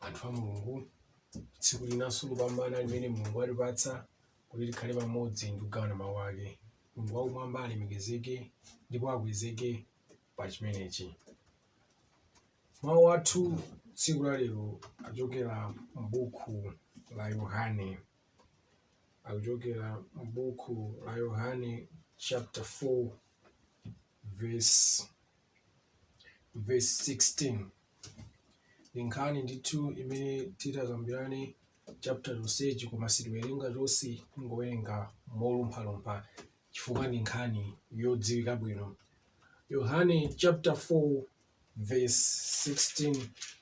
anthu a mulungu tsiku linanso lopambana limene mulungu walipatsa kuti likhale pamodzi ndi kugawana mawu ake mulungu wakumwamba alemekezeke ndipo akwezeke pa chimenechi mawu athu tsiku la lero achokera m'buku la yohane akuchokera m'buku la Yohane chapter 4 verse, verse 16 ndi nkhani ndithu imene titakambirane chapter chonsechi koma sitiwerenga chonse tingowerenga molumphalumpha chifukwa ndi nkhani yodziwika bwino yohane chapter 4 verse 16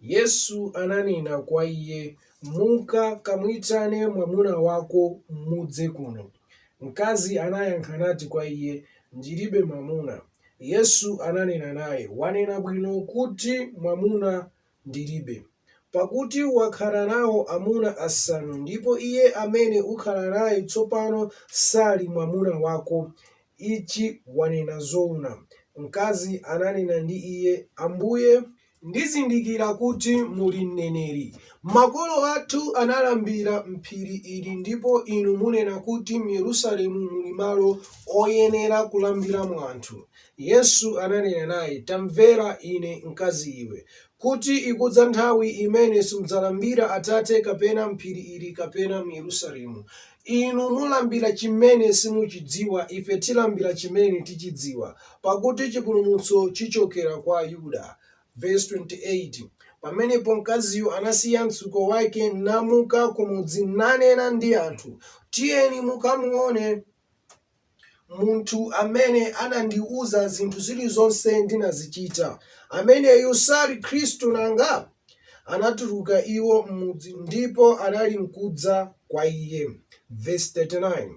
Yesu ananena kwa iye, Muka kamuitane mwamuna wako mudze kuno. Mkazi anayankha nati kwa iye, Ndilibe mwamuna. Yesu ananena naye, Wanena bwino kuti, Mwamuna ndilibe. Pakuti wakhala nao amuna asanu, ndipo iye amene ukhala naye tsopano sali mwamuna wako. Ichi wanena zoona. Mkazi ananena ndi Iye, Ambuye. ndizindikira kuti muli mneneri. Makolo athu analambira m'phiri ili ndipo Inu munena kuti m'Yerusalemu muli malo oyenera kulambiramo anthu. Yesu ananena naye, Tamvera Ine, mkazi iwe, kuti ikudza nthawi imene simudzalambira Atate kapena m'phiri ili kapena m'Yerusalemu. Inu mulambira chimene simuchidziwa, ife tilambira chimene tichidziwa, pakuti chipulumutso chichokera kwa Ayuda. Vesi 28, Pamenepo mkaziyo anasiya mtsuko wake, namuka kumudzi, nanena ndi anthu, Tiyeni mukamuone. Munthu amene anandiuza zinthu zilizonse ndinazichita, ameneyu sali Khristu nanga? Anatuluka iwo m'mudzi ndipo anali nkudza kwa Iye. Vesi 39,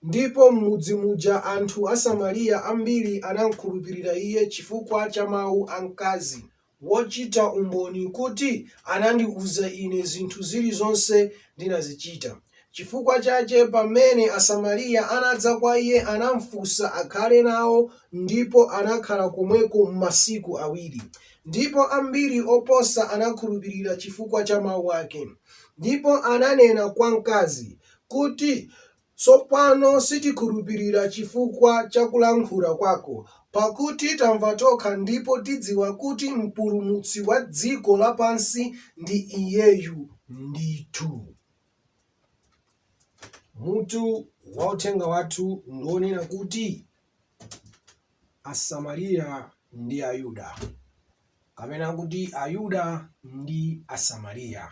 Ndipo m'mudzi muja anthu Asamariya ambiri anamkhulupirira Iye chifukwa cha mau a mkazi. wochita umboni kuti anandiuza ine zinthu zilizonse ndinazichita. Chifukwa chache pamene Asamariya anadza kwa Iye, anamfunsa akhale nao, ndipo anakhala komweko masiku awiri. Ndipo ambiri oposa anakhulupirira chifukwa cha mau ake. Ndipo ananena kwa mkazi, kuti, Tsopano sitikhulupirira chifukwa cha kulankhula kwako, pakuti tamva tokha ndipo tidziwa kuti Mpulumutsi wa dziko lapansi ndi Iyeyu ndithu. Mutu wa uthenga wathu ndi wonena kuti Asamariya ndi Ayuda, kapena kuti Ayuda ndi Asamariya.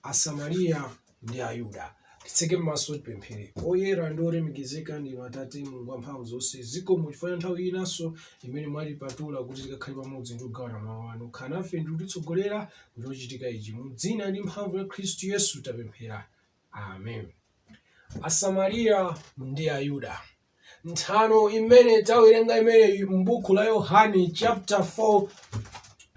Asamariya ndi Ayuda. Titseke m'maso tipemphere. Oyera ndi olemekezeka ndinu Atate Mulungu wamphamvu zonse, zikomo chifukwa cha nthawi inanso imene mwatipatula kuti tikakhale pamodzi ndi kugawana mawu anu. Khala nafe ndi kutitsogolera mu chochitika ichi. Mu dzina ndi mphamvu ya Khristu Yesu tapemphera. Amen. Asamariya ndi Ayuda. Nthano imene tawerenga imeneyi m'buku la Yohane chapter 4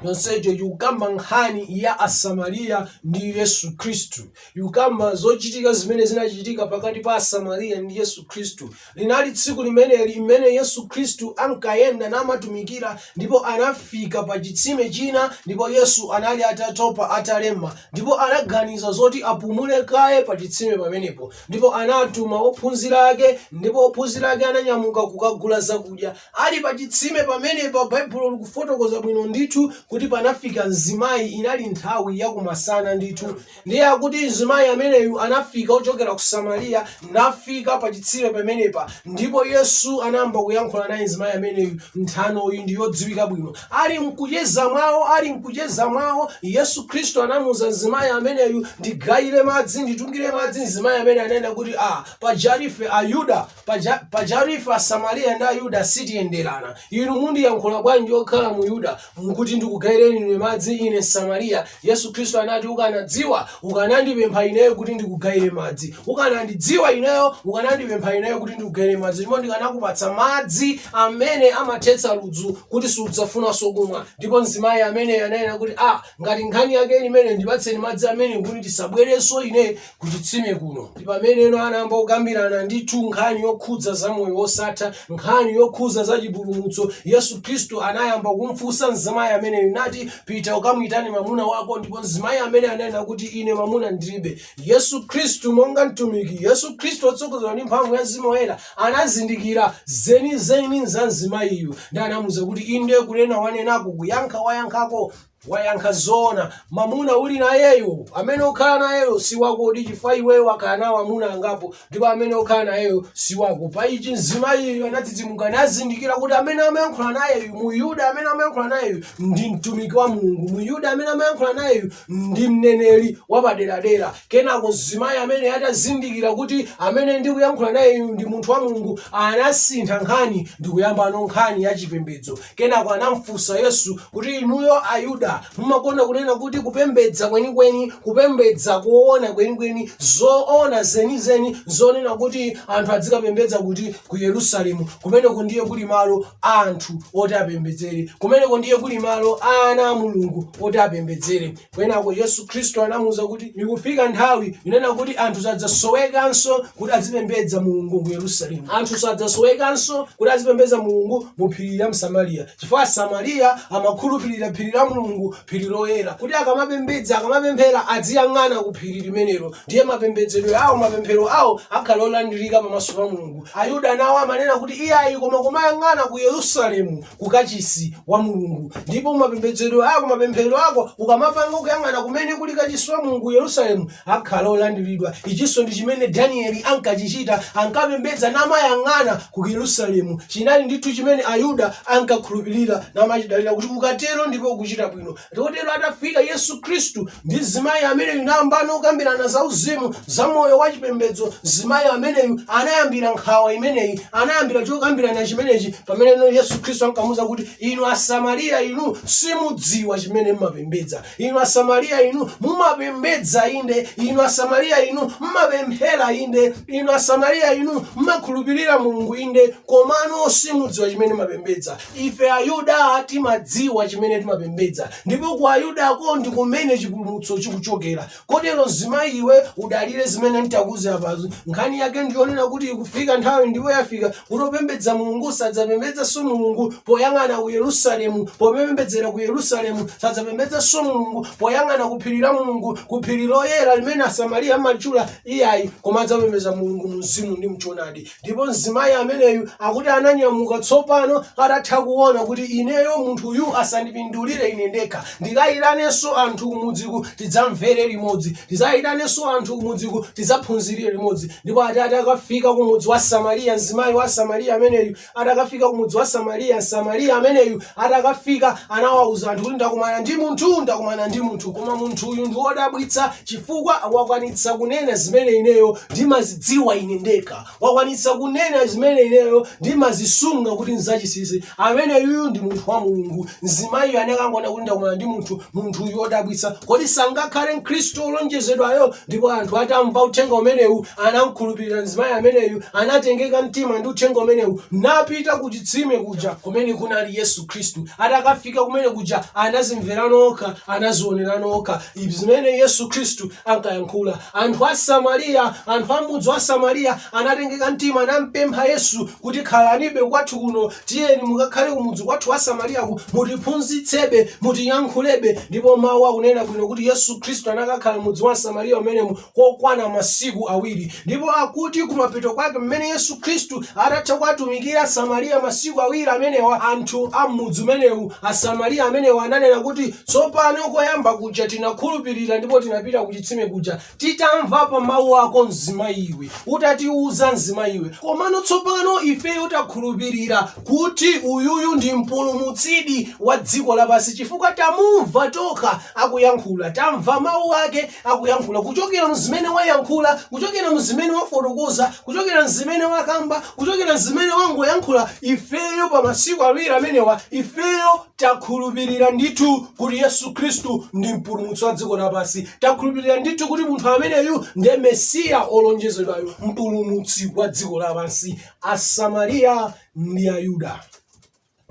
yonseyo ikukamba nkhani ya Asamariya ndi Yesu Khristu. Ikukamba zochitika zimene zinachitika pakati pa Asamariya ndi Yesu Khristu. Linali tsiku limeneli limene Yesu Khristu ankayenda namatumikira ndipo anafika pa chitsime china ndipo Yesu anali atatopa, atalema ndipo anaganiza zoti apumule kaye pa chitsime pamenepo. Ndipo anatuma ophunzira ake, ndipo ophunzira ake ananyamuka kukagula zakudya. Ali pa chitsime pamenepa, Baibulo likufotokoza bwino ndithu kuti panafika mzimayi, inali nthawi ya kumasana ndithu. Ndiye akuti mzimayi ameneyu anafika ochokera ku Samariya, nafika pa chitsime pamenepa, ndipo Yesu anayamba kuyankhula naye mzimayi ameneyu. Nthanoyi ndi yodziwika bwino. Ali mkucheza mwawo, ali mkucheza mwawo, Yesu Khristu anamuuza mzimayi ameneyu, ndigayire madzi, nditungire madzi. Mzimayi amene anena kuti ah, pajatu ife Ayuda, paja, pajatu ife Asamariya ndi Ayuda sitiyenderana. Inu mundiyankhula bwanji okhala Myuda, mukuti ndikugayireni ine madzi, ine Msamariya. Yesu Khristu anati, Ukanadziwa, ukanandipempha Ineyo kuti ndikugayire madzi. Ukanandidziwa Ineyo, ukanandipempha Ineyo kuti ndikugayire madzi, ndipo ndikanakupatsa madzi amene amathetsa ludzu kuti sudzafunanso kumwa. Ndipo mzimayi ameneyo ananena kuti, Ah, ngati nkhani yake ili imeneyo, ndipatseni madzi amenewo kuti ndisabwerenso ine kuchitsime kuno ndi pameneno anayamba kukambirana ndithu nkhani yokhudza za moyo wosatha nkhani yokhudza za chipulumutso yesu khristu anayamba kumfunsa mzimayi ameneyo nati pita ukamuyitane mamuna wako ndipo mzimayi amene ananena kuti ine mamuna ndilibe yesu khristu monga mtumiki yesu khristu otsogozedwa ndi mphamvu ya mzimu woyera anazindikira zenizeni za mzimayiyu ndi anamuuza kuti inde kunena wanenako kuyankha wayankhako Wayankha zoona. Mamuna uli nayeyo, amene ukhala nayeyo si wako di chifukwa iweyo wakhala nawo amuna angapo ndipo amene ukhala nayeyo si wako. Pa ichi mzimayiyu anadzidzimuka nazindikira kuti amene amayankhula nayeyu, mu Yuda amene amayankhula nayeyu ndi mtumiki wa Mulungu. Mu Yuda amene amayankhula nayeyu ndi mneneri wapaderadera. Kenako mzimayi amene atazindikira kuti amene ndikuyankhula nayeyu ndi munthu wa Mulungu anasintha nkhani ndi kuyambano nkhani ya chipembedzo. Kenako anam'funsa Yesu kuti, Inuyo Ayuda, mumakonda kunena kuti kupembedza kwenikweni, kupembedza koona kwenikweni, zoona zenizeni zonena kuti anthu adzikapembedza kuti? Ku Yerusalemu. Kumeneko ndiye kuli malo a anthu oti apembedzere. Kumeneko ndiye kuli malo a ana a Mulungu oti apembedzere. Kenako Yesu Khristu anamuuza kuti, Ikufika nthawi yonena kuti anthu sadzasowekanso kuti azipembedza Mulungu ku Yerusalemu. Anthu sadzasowekanso kuti azipembedza Mulungu mu phiri la m'Samariya, chifukwa Asamariya amakhulupirira phiri la Mulungu, phiri loyera, kuti akamapembedza, akamapemphera aziyang'ana ku phiri limenelo. Ndiye mapembedzedwe awo, mapemphero awo akhala olandirika pamaso pa Mulungu. Ayuda nawo amanena kuti, Iyayi, koma kumayang'ana ku Yerusalemu. ku kachisi wa mulungu ndipo mapembedzedwe ako mapemphero ako ukamapanga ukuyang'ana kumene kuli kachisi wa mulungu ku yerusalemu akhala olandiridwa ichinso ndi chimene danieli ankachichita ankapembedza namayang'ana ku yerusalemu chinali ndithu chimene ayuda ankakhulupirira namachidalira kuti ukatero ndipo ukuchita bwino Chotero atafika Yesu Khristu ndi mzimayi ameneyu nayambano kukambirana za uzimu za moyo wa chipembedzo, mzimayi ameneyu anayambira nkhawa imeneyi, anayambira chokambirana chimenechi pamene Yesu Khristu ankamuuza kuti inu Asamariya inu simudziwa chimene mumapembedza. Inu Asamariya inu mumapembedza inde, inu Asamariya inu mumapemphera inde, inu Asamariya inu mumakhulupirira Mulungu inde, komano simudziwa chimene mumapembedza. Ife Ayuda timadziwa chimene timapembedza, ndipo ku Ayudako ndi kumene chipulumutso chikuchokera. Kotero mzimayi iwe udalire zimene nditakuuze apazo. Nkhani yake ndi yonena kuti ikufika nthawi ndipo yafika kuti opembedza Mulungu sadzapembedzanso Mulungu poyang'ana ku Yerusalemu, popembedzera ku Yerusalemu sadzapembedzanso Mulungu poyang'ana ku phiri la Mulungu, ku phiri loyera limene Asamariya amatchula, iyayi, koma adzapembedza Mulungu mu mzimu ndi m'choonadi. ndipo mzimayi ameneyu akuti ananyamuka tsopano atatha kuona kuti ineyo munthuyu asandipindulire ine ndekha ndikayitanenso anthu kumudziku tidzamvere limodzi ndikayitanenso anthu kumudziku tidzaphunzirire limodzi ndipo ati atakafika kumudzi wa samariya mzimayi wa samariya ameneyu atakafika kumudzi wa samariya samariya ameneyu Atakafika anawauza anthu kuti, Ndakumana ndi munthu, ndakumana ndi munthu, koma munthuyu ndi wodabwitsa chifukwa wakwanitsa kunena zimene ineyo ndimazidziwa ine ndekha. Wakwanitsa kunena zimene ineyo ndimazisunga kuti n'zachisisi. Ameneyuyu ndi munthu wa Mulungu. Mzimayiyo anakangonena kuti, Ndakumana ndi munthu, munthu uyu wodabwitsa kodi sangakhale mkhristu wolonjezedwayo ndipo anthu atamva uthenga umenewu anamkhulupirira mzimayi ameneyu anatengeka mtima ndi uthenga umenewu napita ku chitsime kuja kumene kunali yesu khristu atakafika kumene kuja anazimverano okha anazionerano okha zimene yesu khristu ankayankhula anthu a samariya anthu a mudzi wa samariya anatengeka mtima anampempha Yesu kuti khalanibe kwathu kuno, tiyeni mukakhale kumudzi kwathu wa Samariyaku, mutiphunzitsebe, mutiyankhulebe. Ndipo mawu akunena bwino kuti Yesu Khristu anakakhala mudzi wa Samariya umenemu kokwana masiku awiri. Ndipo akuti kumapeto kwake mmene Yesu Khristu atatha kuwatumikira Samariya masiku awiri amenewa, anthu a m'mudzi umenewu, Asamariya amenewa ananena kuti, tsopano koyamba kuja tinakhulupirira ndipo tinapita kuchitsime kuja, Titamva pa mawu ako mzimayiwe, utatiuza mzimayiwe, komano tsopano ifeyo takhulupirira kuti uyuyu ndi Mpulumutsidi wa dziko lapansi, chifukwa tamumva tokha akuyankhula. Tamva mawu ake akuyankhula kuchokera mzimene wayankhula, kuchokera mzimene wafotokoza, kuchokera mzimene wakamba, kuchokera mzimene wangoyankhula, ifeyo pa masiku awiri amenewa, ifeyo takhulupirira ndithu kuti yesu khristu ndi mpulumutsi wa dziko lapansi takhulupirira ndithu kuti munthu ameneyu ndiye mesiya olonjezedwayo mpulumutsi wa dziko lapansi asamariya ndi ayuda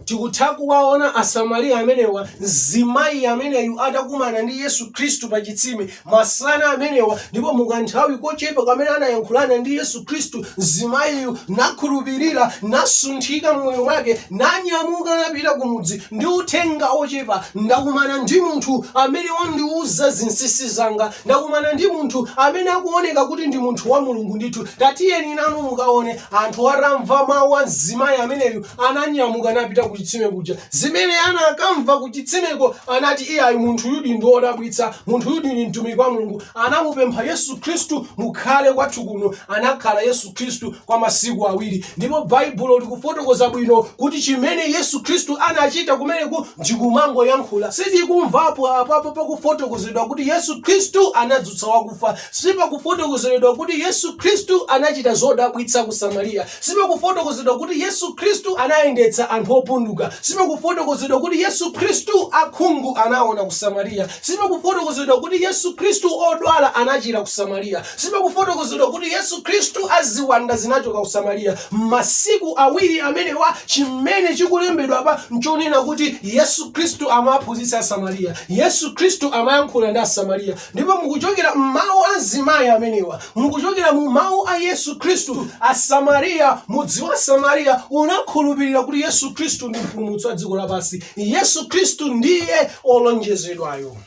tikutha kuwaona asamariya amenewa mzimayi ameneyu atakumana ndi yesu khristu pa chitsime masana amenewa, ndipo mu kanthawi kochepa kamene anayankhulana ndi Yesu Khristu, mzimayiyu nakhulupirira, nasunthika m'moyo mwake, nanyamuka napita kumudzi ndi uthenga wochepa, Ndakumana ndi munthu amene wandiuza zinsinsi zanga. Ndakumana ndi munthu amene akuoneka kuti ndi munthu wa Mulungu ndithu. Tatiyeni nanu mukaone. Anthu atamva mau a mzimayi ameneyu, ananyamuka napita kuchitsime kuja. Zimene anakamva ku chitsimeko, anati, Iyayi, munthuyudi ndi wodabwitsa. Munthuyudi ndi Mtumiki wa Mulungu. Anamupempha Yesu Khristu, Mukhale kwathu kuno. Anakhala Yesu Khristu kwa masiku awiri. Ndipo Baibulo likufotokoza bwino kuti chimene Yesu Khristu anachita kumeneku ndikumangoyankhula. Sitikumvapo apapo pakufotokozedwa kuti Yesu Khristu anadzutsa wakufa. Sipakufotokozedwa kuti Yesu Khristu anachita zodabwitsa ku Samariya. Sipakufotokozedwa kuti Yesu Khristu anayendetsa anthu opunduka. Sipakufotokozedwa kuti Yesu Khristu akhungu anaona ku Samariya. Sipakufotokozedwa kuti Yesu Khristu odwala anachira ku Samariya. Sipakufotokozedwa kuti Yesu Khristu aziwanda zinachoka ku Samariya. M'masiku awiri amenewa, chimene chikulembedwa apa n'chonena kuti Yesu Khristu amawaphunzitsa Asamariya. Yesu Khristu amayankhula ndi Asamariya. Ndipo mukuchokera m'mawu a mzimayi amenewa, mukuchokera mu mawu a Yesu Khristu, Asamariya, mudzi wa Samariya unakhulupirira kuti Yesu Khristu ndi mpulumutsi wa dziko lapansi. Yesu Khristu ndiye olonjezedwayo.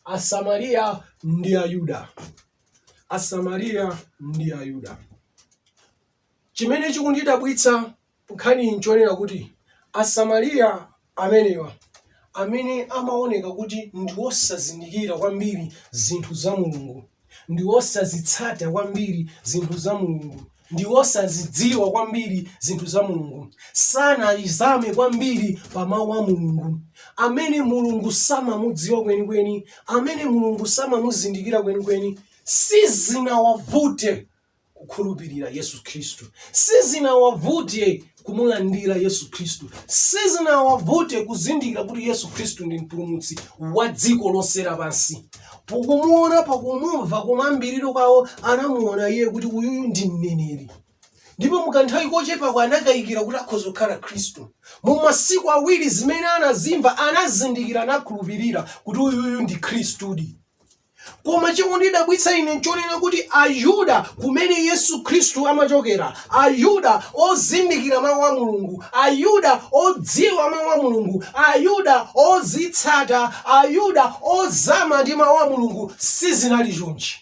Asamariya ndi Ayuda. Asamariya ndi Ayuda. Chimene chikundidabwitsa Nkhaniyi n'chonena kuti Asamariya amenewa, amene amaoneka kuti ndi osazindikira kwambiri zinthu za Mulungu, ndi osazitsata kwambiri zinthu za Mulungu, ndi osazidziwa kwambiri zinthu za Mulungu, sanalizame kwambiri pa Mawu a Mulungu, amene Mulungu samamudziwa kwenikweni, amene Mulungu samamuzindikira kwenikweni, sizinawavute kukhulupirira Yesu Khristu. Sizinawavute kumulandira Yesu Khristu. Sizinawavute kuzindikira kuti Yesu Khristu ndi mpulumutsi wa dziko lonse lapansi. Pakumuona, pakumumva kumayambiriro kwawo anamuona iye kuti uyuyu ndi mneneri. ndipo mukanthawi kochepako anakayikira kuti akhoza kukhala khristu mu masiku awiri zimene anazimva anazindikira anakhulupirira kuti uyuyu ndi khristudi Koma chikundidabwitsa ine nchonena kuti Ayuda kumene Yesu Khristu amachokera, Ayuda ozindikira Mawu a Mulungu, Ayuda odziwa Mawu a Mulungu, Ayuda ozitsata, Ayuda ozama ndi Mawu a Mulungu, sizinali chonchi.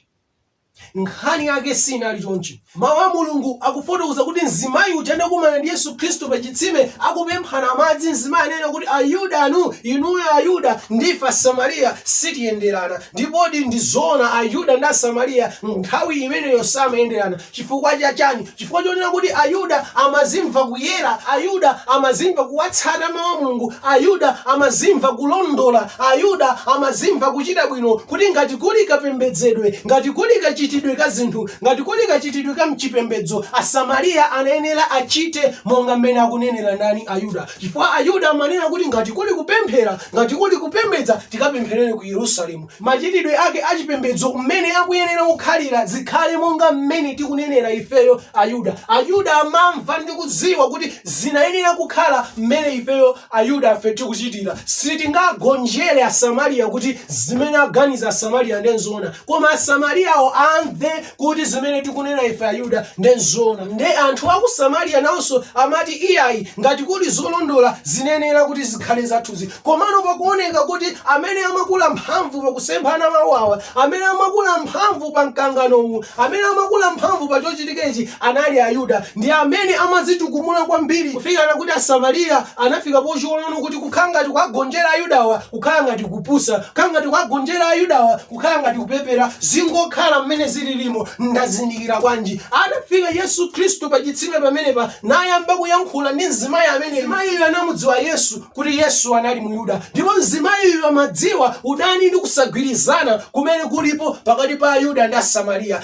Nkhani yake siinali chonchi. Mau a Mulungu akufotokoza kuti mzimayi uja anakumana ndi Yesu Khristu pa chitsime akupemphana madzi. Mzimayi anena kuti, Ayudanu, inuyo Ayuda, ndi ife Asamariya sitiyenderana. Ndipodi ndi zoona Ayuda ndi Asamariya nthawi imeneyo samayenderana. Chifukwa cha chani? Chifukwa chonena kuti Ayuda amazimva kuyera, Ayuda amazimva kuwatsata Mau a Mulungu, Ayuda amazimva kulondola, Ayuda amazimva kuchita bwino kuti ngati kuli kapembedzedwe, ngati kuli kachitidwe ka zinthu Ngati kuli kachitidwe ka mchipembedzo, Asamariya anayenera achite monga mmene akunenera ndani? Ayuda. Chifukwa Ayuda amanena kuti ngati kuli kupemphera, ngati kuli kupembedza, tikapempherere ku Yerusalemu. Machitidwe ake a chipembedzo, mmene akuyenera kukhalira, zikhale monga mmene tikunenera ifeyo, Ayuda. Ayuda amamva ndi kudziwa kuti zinayenera kukhala mmene ifeyo. Ayuda ife tikuchitira. Sitingagonjere Asamariya kuti zimene aganiza Asamariya ndiye n'zoona, koma Asamariyawo amve kuti zimene tikunena ife Ayuda ndiye n'zoona. Ndiye anthu a ku Samariya nawonso amati, Iyayi, ngati kuli zolondola zinenera kuti zikhale zathuzi. Komano pakuoneka kuti amene amakula mphamvu pakusemphana mawu awa amene amakula mphamvu pa mkangano uwu amene amakula mphamvu pa chochitika ichi anali ayuda ndi amene amadzitukumula kwambiri kufikana kuti asamariya anafika pochiona kuti kukhala ngati kuwagonjera ayudawa kukhala ngati kupusa kukhala ngati kuwagonjera ayudawa kukhala ngati kupepera zingokhala mmene zililimo ndazindikira kwanji atafika yesu khristu pa chitsime pamenepa nayamba kuyankhula ndi mzimayi amene mayiyo anamudziwa yesu kuti yesu anali muyuda ndipo mzimayiyu amadziwa udani ndi kusagwirizana kumene kulipo pakati pa ayuda ndi asamariya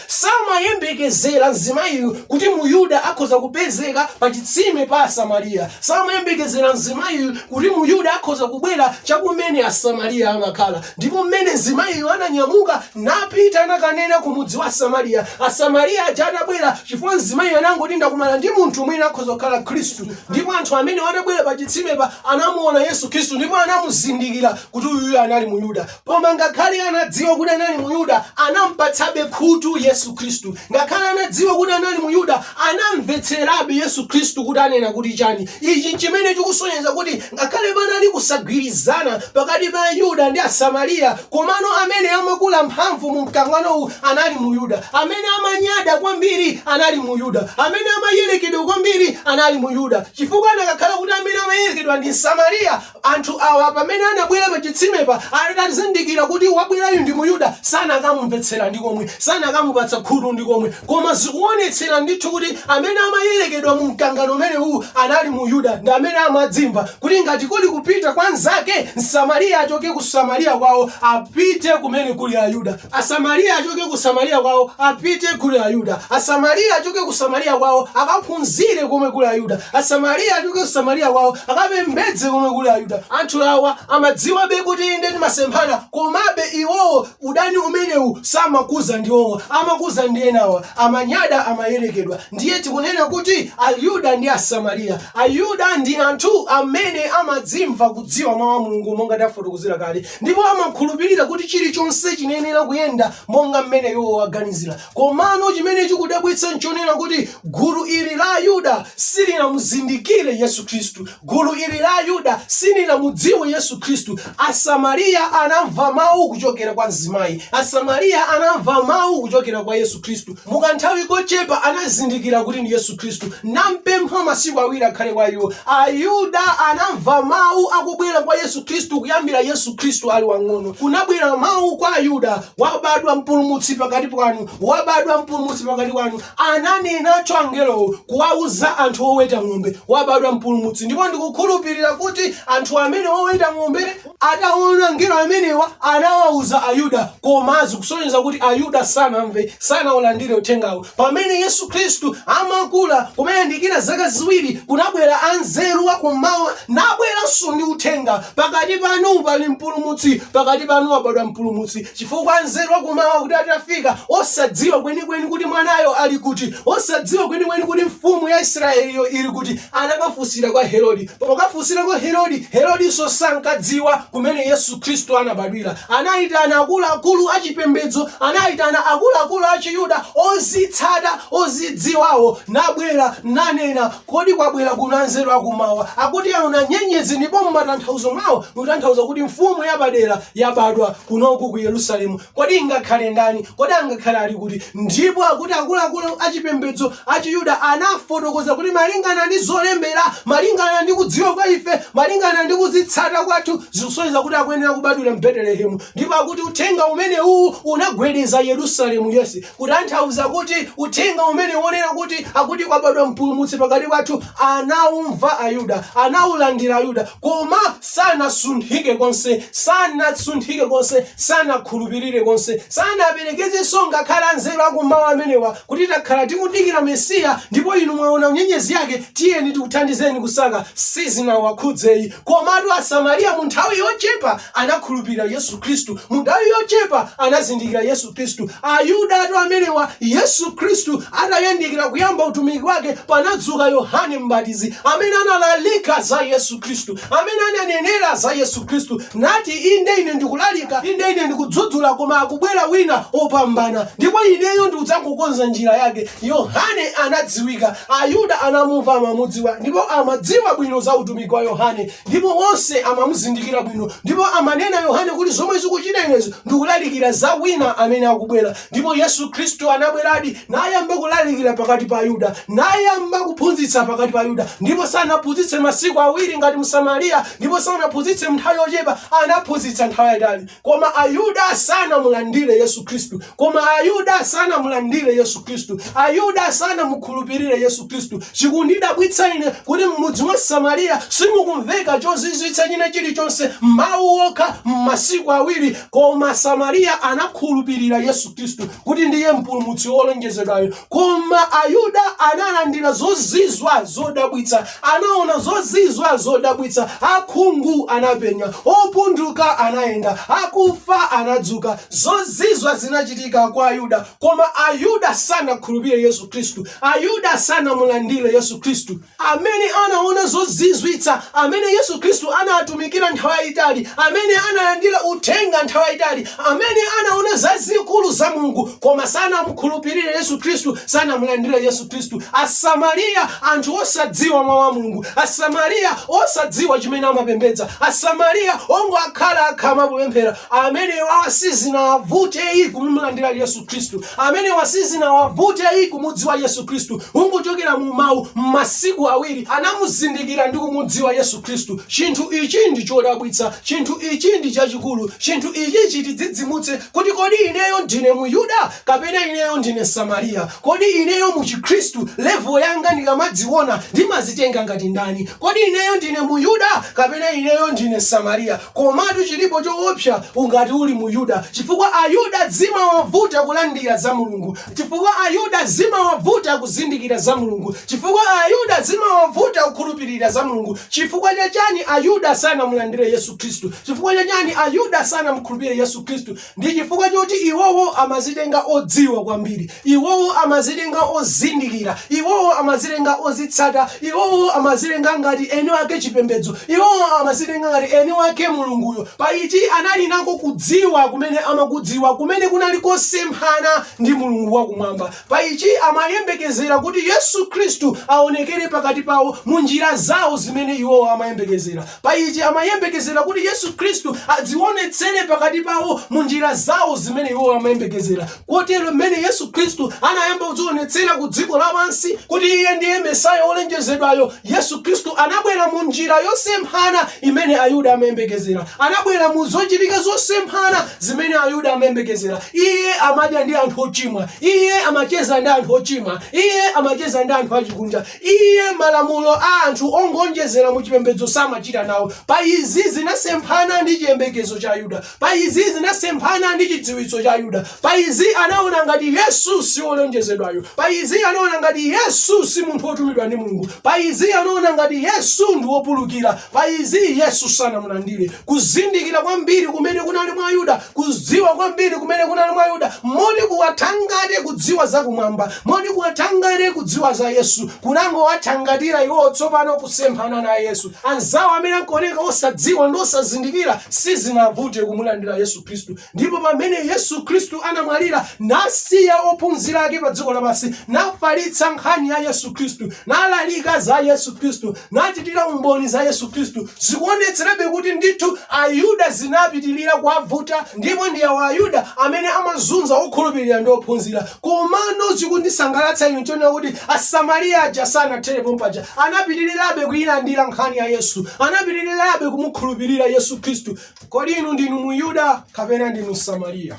samayembekezera mzimayiyu kuti muyuda akhoza kupezeka pa chitsime pa asamariya samayembekezera mzimayiyu kuti muyuda akhoza kubwera chakumene asamariya amakhala ndipo mmene mzimayiyu ananyamuka napita nakanena ku mudzi wa asamariya asamariya aja atabwera chifukwa mzimayiyu anangoti ndakumana ndi munthu mwina akhoza kukhala khristu Ndipo anthu amenewo atabwera pa chitsimepa, anamuona Yesu Khristu ndipo anamuzindikira kuti uyuyu anali Muyuda. Koma ngakhale anadziwa kuti anali Muyuda, anampatsabe khutu Yesu Khristu. Ngakhale anadziwa kuti anali Muyuda, anamvetserabe Yesu Khristu kuti anena kuti chani. Ichi chimene chikusonyeza kuti ngakhale panali kusagwirizana pakati pa Ayuda ndi Asamariya, Komano amene amakula mphamvu mu mkangano uwu anali Muyuda. Amene amanyada kwambiri anali Muyuda. Amene amayerekedwa kwambiri anali Muyuda. Chifukwa anakakhala kuti amene amayerekedwa ndi Msamariya, anthu awa pamene anabwera pa chitsimepa atazindikira kuti wabwerayu ndi Muyuda, sanakamumvetsera ndi komwe, sanakamupatsa khutu ndi komwe. Koma zikuonetsera ndithu kuti amene amayerekedwa mu mkangano umenewu anali Muyuda ndi amene amadzimva kuti ngati kuli kupita kwa mzake Msamariya achoke ku Samariya kwawo apite kumene kuli Ayuda. Asamariya achoke ku Samariya kwawo apite kuli Ayuda. Asamariya achoke ku Samariya kwawo akaphunzire komwe kuli Ayuda. Asamariya achoke ku Samariya kwawo akapembedze komwe kuli Ayuda. Anthu awa amadziwabe kuti inde timasemphana komabe iwowo Udani umenewu samakuza ndi iwowo amakuza ndi enawa amanyada amayerekedwa ndiye tikunena kuti ayuda ndi asamariya ayuda ndi anthu amene amadzimva kudziwa mawu a mulungu monga tafotokozera kale ndipo amakhulupirira kuti chilichonse chinenera kuyenda monga mmene iwo aganizira komano chimene chikudabwitsa nchonena kuti gulu ili la ayuda silinamuzindikire yesu khristu Gulu ili la Ayuda silinamudziwe Yesu Khristu. Asamariya anamva mau kuchokera kwa mzimayi. Asamariya anamva mau kuchokera kwa Yesu Khristu. Mukanthawi kochepa anazindikira kuti ndi Yesu Khristu. Nampempha masiku awiri akhale kwa iwo. Ayuda anamva mau akubwera kwa Yesu Khristu kuyambira Yesu Khristu ali wang'ono. Kunabwera mau kwa Ayuda, Wabadwa Mpulumutsi pakati panu, wabadwa Mpulumutsi pakati panu. Ananenacho angelowo kuwauza anthu oweta ng'ombe, Wabadwa Mpulumutsi, ndipo ndikukhulupirira kuti anthu amene oweta ng'ombe ataona angelo amenewa anawauza Ayuda koma zikusonyeza kuti Ayuda sanamve, sanaulandire uthengawo. Pamene Yesu Khristu amakula, kumayandikira zaka ziwiri, kunabwera anzeru a kummawa nabweranso ndi uthenga, Pakati panu pali Mpulumutsi, pakati panu wabadwa Mpulumutsi. Chifukwa anzeru akummawa kuti atafika, osadziwa kwenikweni kuti mwanayo ali kuti, osadziwa kwenikweni kuti mfumu ya Isiraeliyo ili kuti, anakafunsira kwa Herode. Pokafunsira kwa Herode, Herodinso sankadziwa kumene Yesu Khristu anabadwira. Anaitana akuluakulu achipembedzo, anaitana akuluakulu achiyuda ozitsata, ozidziwawo, nabwera, nanena Kodi kwabwera kuno anzeru akummawa akuti aona nyenyezi ndipo mumatanthauzo mwawo ikutanthauza kuti mfumu yapadera yabadwa kunoku ku Yerusalemu? Kodi ingakhale ndani? Kodi angakhale ali kuti? Ndipo akuti akuluakulu achipembedzo achiyuda anafotokoza kuti malingana ndi zolembera, malingana ndi kudziwa kwa ife, malingana ndi kuzitsata kwathu zikusonyeza kuti akuyenera kubadwira m'Betelehemu ndipo akuti uthenga umene uwu unagwedeza Yerusalemu yense. Kutanthauza kuti uthenga umene wonena kuti akuti kwabadwa mpulumutsi pakati pathu anaumva Ayuda, anaulandira Ayuda, koma sanasunthike konse, sanasunthike konse, sanakhulupirire konse, sanaperekezenso ngakhale anzeru akummawa amenewa kuti takhala tikudikira Mesiya ndipo inu mwaona nyenyezi yake tiyeni tikuthandizeni kusaka, sizinawakhudzeyi. Komatu Asamariya mu nthawi yochepa anakhulupirira Yesu Khristu. Mu nthawi yochepa anazindikira Yesu Khristu. Ayudatu amenewa! Yesu Khristu atayandikira kuyamba utumiki wake, panadzuka Yohane Mbatizi, amene analalika za Yesu Khristu, amene ananenera za Yesu Khristu, nati, Inde, ine ndikulalika, inde, ine ndikudzudzula, koma akubwera wina wopambana, ndipo ineyo ndikudzangokonza njira yake. Yohane anadziwika. Ayuda anamumva, amamudziwa, ndipo amadziwa bwino za utumiki wa Yohane. ndipo onse amamuzindikira bwino ndipo amanena yohane kuti zomwe ndikuchita inezi ndikulalikira za wina amene akubwera ndipo yesu khristu anabweradi nayamba kulalikira pakati pa ayuda nayamba kuphunzitsa pakati pa ayuda ndipo sanaphunzitse masiku awiri ngati m'samariya ndipo sanaphunzitse mnthawi yochepa anaphunzitsa nthawi yayitali Koma Ayuda sanamulandire Yesu Khristu. Koma Ayuda sanamulandire Yesu Khristu. Ayuda sanamukhulupirire Yesu Khristu. Chikundidabwitsa ine kuti m'mudzi wa Asamariya simukumveka chozizwitsa china chilichonse, mawu okha m'masiku awiri, koma Asamariya anakhulupirira Yesu Khristu kuti ndiye mpulumutsi wolonjezedwayo. Koma Ayuda analandira zozizwa zodabwitsa, anaona zozizwa zodabwitsa, akhungu anapenya, opunduka anayenda, akufa anadzuka. Zozizwa zinachitika kwa Ayuda, koma Ayuda sanakhulupire Yesu Khristu. Ayuda sanamulandire Yesu Khristu. amene anaona zozizwitsa, amene Yesu Khristu anatumikira nthawi yayitali, amene analandira uthenga nthawi yayitali, amene anaona zazikulu za Mulungu, koma sanamukhulupirire Yesu Khristu, sanamulandire Yesu Khristu. Asamaria, anthu osadziwa Mau a Mulungu, Asamaria osadziwa chimene amapembedza, Asamaria ongokhala akhama popemphera, amenewawa sizinawavute ayi kumulandira Yesu Khristu. Amenewa sizinawavute ayi kumudziwa Yesu Khristu. Kungochokera mu Mawu, m'masiku awiri anamuzindikira ndi kumudziwa Yesu Khristu. Chinthu ichi ndi chodabwitsa. Chinthu ichi ndi chachikulu. Chinthu ichi chitidzidzimutse kuti kodi ineyo ndine Muyuda kapena ineyo ndine Msamariya? Kodi ineyo mu Chikhristu, level yanga ndikamadziona ndimazitenga ngati ndani? Kodi ineyo ndine Muyuda kapena ineyo ndine Msamariya? Komatu chilipo choopsa ngati uli Muyuda chifukwa Ayuda zimawavuta kulandira za Mulungu chifukwa Ayuda zimawavuta kuzindikira za Mulungu chifukwa Ayuda zimawavuta kukhulupirira za Mulungu chifukwa cha chani Ayuda sanamulandire Yesu Khristu chifukwa cha chani Ayuda sanamukhulupirire Yesu Khristu Ndi chifukwa choti iwowo amazitenga odziwa kwambiri, iwowo amazitenga ozindikira, iwowo amazitenga ozitsata, iwowo amazitenga ngati eni wake chipembedzo, iwowo amazitenga ngati eni wake Mulunguyo. Pa ichi anali nako kudziwa kumene amakudziwa kumene kunali kosemphana ndi Mulungu wa Kumwamba. Pa ichi amayembekezera kuti Yesu Khristu aonekere pakati pawo mu njira zawo zimene iwowo amayembekezera. Pa ichi amayembekezera kuti Yesu Khristu adziwonetsere pakati pawo mu njira zawo zimene iwo amayembekezera. Kotero mmene Yesu Khristu anayamba kudziwonetsera ku dziko lapansi kuti Iye ndiye Mesaya wolonjezedwayo, Yesu Khristu anabwera mu njira yosemphana imene Ayuda amayembekezera. Anabwera mu zochitika zosemphana zimene Ayuda amayembekezera. Iye amadya ndi anthu ochimwa. Iye amacheza ndi anthu ochimwa. Iye amacheza ndi anthu achikunja. Iye malamulo a anthu ongoonjezera mu chipembedzo samachita nawo. Pa izi zinasemphana ndi chiyembekezo cha Ayuda. Pa izi zinasemphana ndi chidziwitso cha Ayuda. Pa izi anaona ngati Yesu si wolonjezedwayo. Pa izi anaona ngati Yesu si munthu wotumidwa ndi Mulungu. Pa izi anaona ngati Yesu ndi wopulukira. Pa izi Yesu sanamulandire. Kuzindikira kwambiri kumene kunali mwa Ayuda kudziwa kwambiri kumene kunali mwa ayuda moti kuwathangate kudziwa zakumwamba moti kuwathangate kudziwa za yesu kunangowathangatira iwowo tsopano kusemphana na yesu anzawo amene ankaoneka osadziwa ndi osazindikira sizinavute kumulandira yesu khristu ndipo pamene yesu khristu anamwalira nasiya ophunzira ake pa dziko lapansi nafalitsa nkhani ya yesu khristu nalalika za yesu khristu nachitira umboni za yesu khristu zikuonetserabe kuti ndithu ayuda zinapitirira kuwavuta ndipo ndi awa ayuda amene amazunza okhulupirira ndi ophunzira komano chikundisangalatsa ine chonena kuti asamariya aja sanathere pompaja anapitirirabe kuyilandira nkhani ya yesu anapitirirabe kumukhulupirira yesu khristu kodi inu ndinu muyuda kapena ndinu msamariya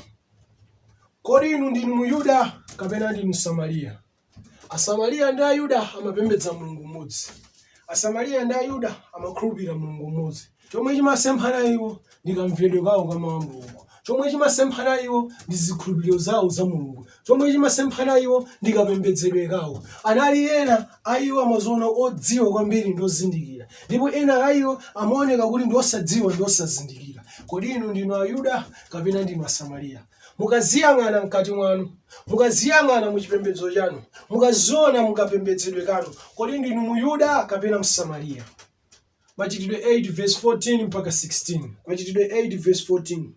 kodi inu ndinu muyuda kapena ndinu msamariya Asamariya ndi Ayuda amapembedza Mulungu mmodzi. Asamariya ndi Ayuda amakhulupirira Mulungu mmodzi. Chomwe chimasemphana iwo ndi kamvedwe kawo ka mawu a Mulungu. Chomwe chimasemphana iwo ndi zikhulupiriro zawo za Mulungu. Chomwe chimasemphana iwo ndi kapembedzedwe kawo. Anali ena a iwo amaziona odziwa kwambiri ndi ozindikira, ndipo ena a iwo amaoneka kuti ndi osadziwa ndi osazindikira. Kodi inu ndinu Ayuda kapena ndinu Asamariya? Mukaziyang'ana mkati mwanu, mukaziyang'ana mu chipembedzo chanu, mukaziona mukapembedzedwe kanu, kodi ndinu Muyuda kapena Msamariya? Machitidwe 8 verse 14 mpaka 16. Machitidwe 8 verse 14.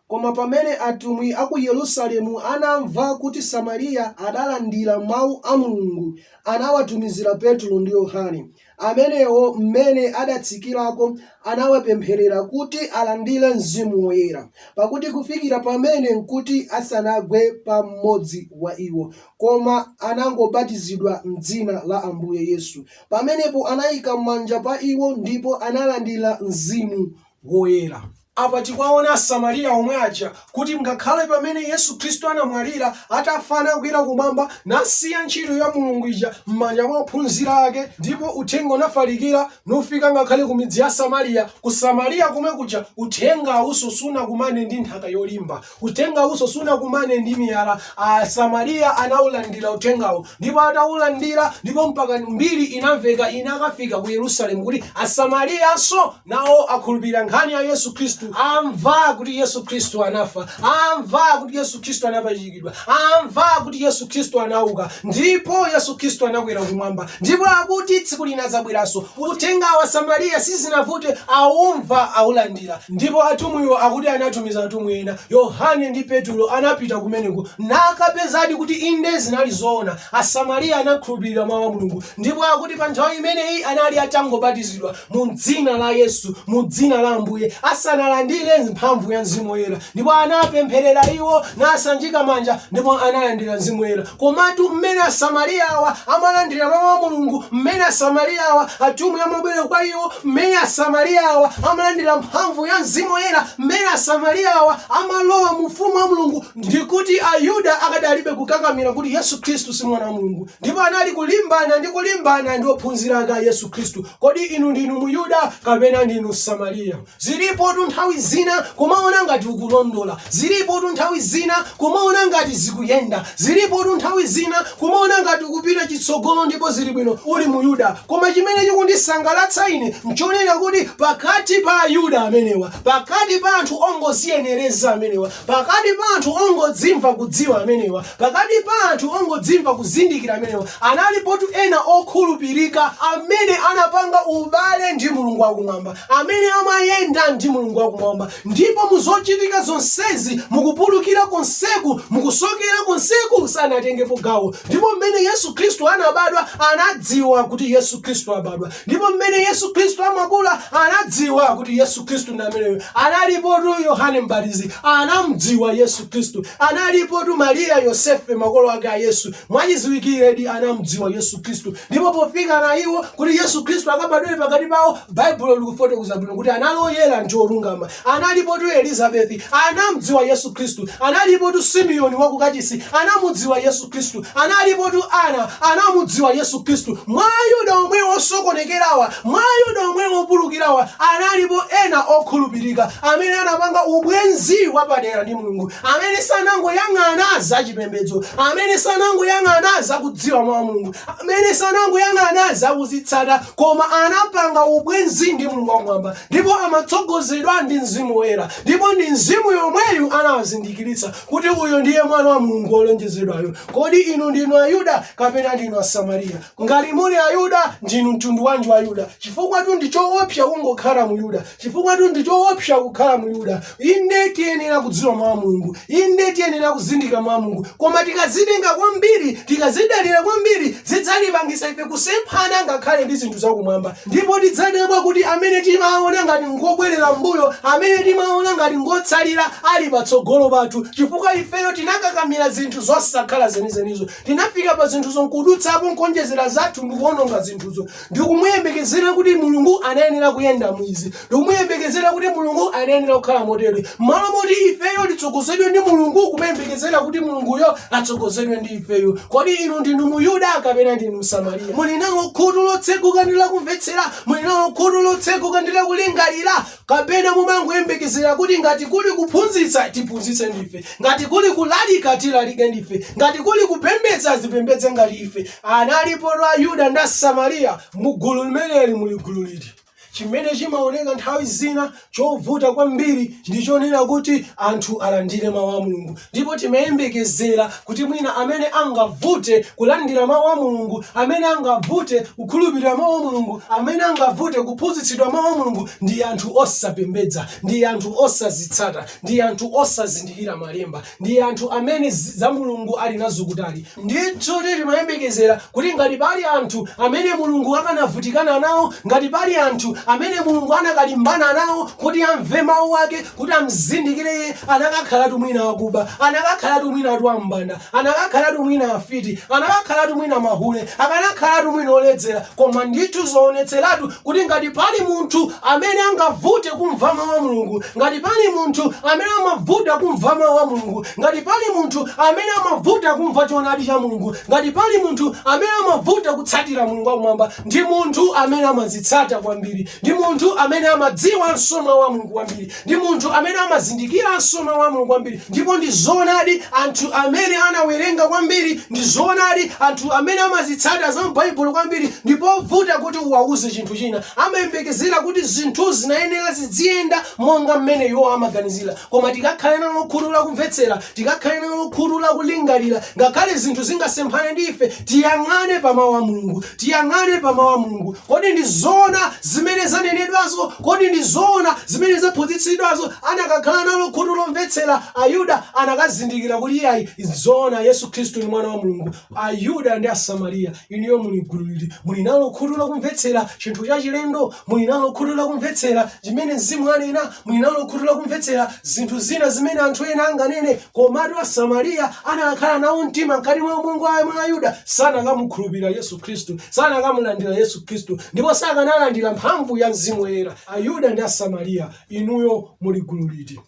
Koma pamene atumwi a ku Yerusalemu anamva kuti Samariya adalandira mawu a Mulungu, anawatumizira Petro ndi Yohane, Amenewo m'mene adatsikirako anawapempherera kuti alandire Mzimu Woyera, pakuti kufikira pamene nkuti asanagwe pa mmodzi wa iwo, koma anangobatizidwa m'dzina la Ambuye Yesu. Pamenepo anaika manja pa iwo, ndipo analandira Mzimu Woyera. Apa tikuwaona Asamariya omwe aja kuti ngakhale pamene Yesu Khristu anamwalira, atafa nakwera kumwamba nasiya ntchito ya Mulungu ija m'manja mwa ophunzira ake ndipo uthenga unafalikira nufika ngakhale ku midzi ya Samariya. Ku Samariya komwe kuja uthenga uwunso sunakumane ndi nthaka yolimba. Uthengawunso sunakumane ndi miyala. Asamariya anawulandira Uthengawo. Ndipo atawulandira, ndipo mpaka mbiri inamveka, inakafika ku Yerusalemu, kuti Asamariyanso nawo akhulupirira nkhani ya Yesu Khristu, amva kuti Yesu Khristu anafa, amva kuti Yesu Khristu anapachikidwa, amva kuti Yesu Khristu anawuka, ndipo Yesu Khristu anakwera Kumwamba, ndipo akuti tsiku lina adzabweranso. Uthengawu Asamariya sizinavute awumva awulandira ndipo atumwiwo akuti anatumiza atumwi ena, Yohane ndi Petulo anapita kumeneko nakapezadi kuti inde zinali zoona Asamariya anakhulupirira mawu a Mulungu ndipo akuti pa nthawi imeneyi anali atangobatizidwa mu dzina la Yesu mu dzina la Ambuye asanalandire mphamvu ya Mzimu Woyera ndipo anapempherera iwo nasanjika manja ndipo analandira Mzimu Woyera. Komatu m'mene Asamariya awa amalandira Mawu a Mulungu, m'mene Asamariya awa atumwi amabwera kwa iwo, m'mene Asamariya awa amalandira mphamvu ya Mzimu Woyera, m'mene Asamariya awa amalowa mu ufumu wa Mulungu, ndi kuti Ayuda akadalibe kukakamira kuti Yesu Khristu si Mwana wa Mulungu, ndipo anali kulimbana ndi kulimbana ndi ophunzira ake a Yesu Khristu. Kodi inu ndinu Muyuda kapena ndinu Msamariya? Zilipotu nthawi zina kumaona ngati ukulondola, zilipotu nthawi zina kumaona ngati zikuyenda, zilipotu nthawi zina kumaona ngati ukupita chitsogolo ndipo zili bwino uli Muyuda. Koma chimene chikundisangalatsa ine n'chonena kuti pakati pa Ayuda amenewa, pakati pa anthu ongoziyenereza amenewa, pakati pa anthu ongodzimva kudziwa amenewa, pakati pa anthu ongodzimva kuzindikira amenewa, analipotu ena okhulupirika amene anapanga ubale ndi Mulungu wa Kumwamba. amene amayenda ndi Mulungu wakumwamba, ndipo mu zochitika zonsezi, mukupulukira konseku, mukusokera konseku, sanatengepo gawo. Ndipo mmene Yesu Khristu anabadwa, anadziwa kuti Yesu Khristu abadwa. Ndipo mmene Yesu Khristu amakula, anadziwa kuti Yesu Khristu ndi ameneyo. Analipotu Yohane Mbatizi, anamdziwa Yesu Khristu. Analipotu Mariya Yosefe, makolo ake a Yesu, mwachidziwikiredi anamdziwa Yesu Khristu. Ndipo pofikana iwo kuti Yesu Khristu akabadwire pakati pawo, Baibulo likufotokoza bwino kuti anali oyera ndi olungama. Analipotu Elizabethi, anamdziwa Yesu Kristu. Analipotu Simeoni wa ku kachisi, anamudziwa Yesu Kristu. Analipotu Anna, anamudziwa Yesu Kristu. Mwa Ayuda omwe osokonekerawa, mwa Ayuda omwe opulukirawa, analipo ena okhulupirika amene anapanga ubwenzi wapadera ndi Mulungu, amene sanangoyang'ana za chipembedzo, amene sanangoyang'ana za kudziwa Mawu a Mulungu, amene sanangoyang'ana za kuzitsata koma anapanga ubwenzi ndi mulungu wakumwamba ndipo amatsogozedwa ndi mzimu woyera ndipo ndi mzimu yomweyu anawazindikiritsa kuti uyo ndiye mwana wa mulungu wolonjezedwayo kodi inu ndinu ayuda kapena ndinu asamariya ngati muli ayuda ndinu mtundu wanji wa ayuda chifukwatu ndi choopsa kungokhala muyuda Chifukwatu ndi choopsa kukhala Myuda. Inde, tiyenera kudziwa Mawu a Mulungu. Inde, tiyenera kuzindikira Mawu a Mulungu. Koma tikadzitenga kwambiri, tikadzidalira kwambiri, zidzatipangitsa ife kusemphana ngakhale ndi zinthu zakumwamba. Ndipo tidzadabwa kuti amene timawaona ngati ngobwerera m'mbuyo, amene timawaona ngati ngotsalira, ali patsogolo pathu, chifukwa ifeyo tinakakamira zinthu zosakhala zenizenizo. Tinafika pa zinthuzo n'kudutsapo n'kuwonjezera zathu ndi kuwononga zinthuzo. ndikumuyembekezera kuti Mulungu anayenera kuyenda mu izi, ndikumuyembekezera kuti Mulungu anayenera kukhala motere, m'malo moti ifeyo titsogozedwe ndi Mulungu, kumuyembekezera kuti Mulunguyo atsogozedwe ndi ifeyo. Kodi inu ndinu Muyuda kapena ndinu Msamariya? Muli nalo khutu lotseguka ndi lakumvetsera? Muli nalo khutu lotseguka ndi lakulingalira? Kapena mumangoyembekezera kuti ngati kuli kuphunzitsa, tiphunzitse ndife, ngati kuli kulalika, tilalike ndife, ngati kuli kupembedza, azipembedze ngati ife? Analipotu a Yuda ndi a Samariya mu gulu limeneli muli gulu liti? Chimene chimaoneka nthawi zina chovuta kwambiri ndi chonena kuti anthu alandire Mau a Mulungu. Ndipo timayembekezera kuti mwina amene angavute kulandira Mau a Mulungu, amene angavute kukhulupirira Mau a Mulungu, amene angavute kuphunzitsidwa Mau a Mulungu ndi anthu osapembedza, ndi anthu osazitsata, ndi anthu osazindikira Malemba, ndi anthu amene za Mulungu ali nazo kutali. Ndithudi timayembekezera kuti ngati pali anthu amene Mulungu akanavutikana nawo, ngati pali anthu amene Mulungu anakalimbana nawo kuti amve Mawu Ake, kuti amzindikire Iye, anakakhalatu mwina akuba, anakakhalatu mwinatu ambanda, anakakhalatu mwina afiti, anakakhalatu mwina mahule, akanakhalatu mwina oledzera, koma ndithu zoonetseratu kuti ngati pali munthu amene angavute kumva mawu a mulungu ngati pali munthu amene amavuta kumva mawu a mulungu ngati pali munthu amene amavuta kumva choonadi cha mulungu ngati pali munthu amene amavuta kutsatira mulungu wakumwamba ndi munthu amene amazitsata kwambiri ndi munthu amene amadziwanso mawu a mulungu kwambiri ndi munthu amene amazindikiranso mawu a mulungu kwambiri ndipo ndi zoonadi anthu amene anawerenga kwambiri ndi zoonadi anthu amene amazitsata za m'baibulo kwambiri ndi povuta kuti uwauze chinthu china amayembekezera kuti zinthu zinayenera zidziyenda monga mmene iwo amaganizira koma tikakhale nalo khutu lakumvetsera Tikakhale nalo khutu la kulingalira, ngakhale zinthu zingasemphane ndi ife, tiyang'ane pa Mawu a Mulungu. Tiyang'ane pa Mawu a Mulungu. Kodi ndi zoona zimene zanenedwazo? Kodi ndi zoona zimene zaphunzitsidwazo? Anakakhala nalo khutu lomvetsera, Ayuda anakazindikira kuti iyayi, nzoona, Yesu Khristu ndi Mwana wa Mulungu. Ayuda ndi Asamariya, inuyo muli gulu liti? Muli nalo khutu lakumvetsera chinthu chachilendo? Muli nalo khutu lakumvetsera chimene Mzimu anena? Muli nalo khutu lakumvetsera zinthu zina zimene anthu ena anganene? Komatu Asamariya anakakhala nawo mtima mkati mwa ubongo mwa Ayuda, sanakamukhulupirira Yesu Khristu, sanakamulandira Yesu Khristu, ndipo sakanalandira mphamvu ya Mzimu Woyera. Ayuda ndi Asamariya, inuyo muli gulu liti?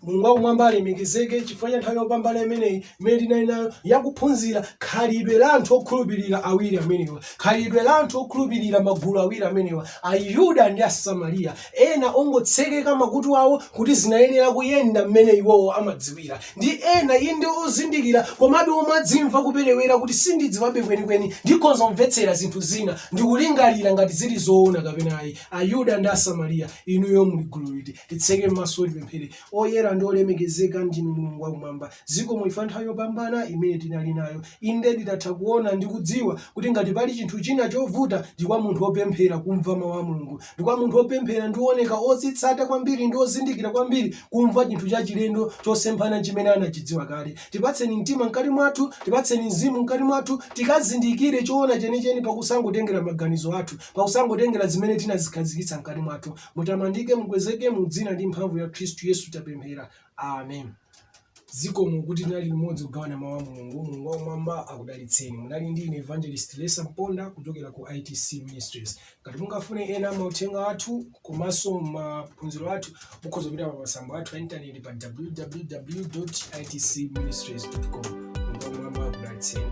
mulungu wakumwamba alemekezeke chifukwa cha nthawi yopambana imeneyi imene tinali nayo yakuphunzira khalidwe la anthu okhulupirira awiri amenewa khalidwe la anthu okhulupirira magulu awiri amenewa ayuda ndi asamariya ena ongotsekeka makutu awo kuti zinayenera kuyenda mmene iwowo amadziwira ndi ena inde ozindikira komabe omadzimva kuperewera kuti sindidziwabe kwenikweni ndikhonza kumvetsera zinthu zina ndikulingalira ngati zili zoona kapena ayi Ayuda ndi Asamariya, inuyo muli gulu liti? Titseke m'maso, tipemphere. Oyera ndi olemekezeka ndinu, Mulungu Wakumwamba. Zikomo chifukwa nthawi yopambana imene tinali nayo. Indedi tatha kuona ndi kudziwa kuti ngati pali chinthu china chovuta, ndi kwa munthu opemphera kumva mawu a Mulungu. Ndi kwa munthu opemphera ndi ooneka ozitsata kwambiri ndi ozindikira kwambiri kumva chinthu chachilendo chosemphana chimene anachidziwa kale. Tipatseni mtima mkati mwathu, tipatseni mzimu mkati mwathu, tikazindikire choona chenicheni pakusangotengera maganizo athu. Pakusangotengera zimene tinazikhazikitsa mkati mwathu. Mutamandike, mukwezeke, mu dzina ndi mphamvu ya Khristu Yesu tapemphera. Amen. Zikomo kuti tinali limodzi kugawana mawu a Mulungu. Mulungu wakumwamba akudalitseni. Munali ndi ine Evangelist Lesa Mponda kuchokera ku ITC Ministries. Ngati mungafune ena mauthenga athu komanso maphunziro athu, mukhoza kupita pa masamba athu a intaneti pa www.itcministries.com. Mulungu wakumwamba akudalitseni.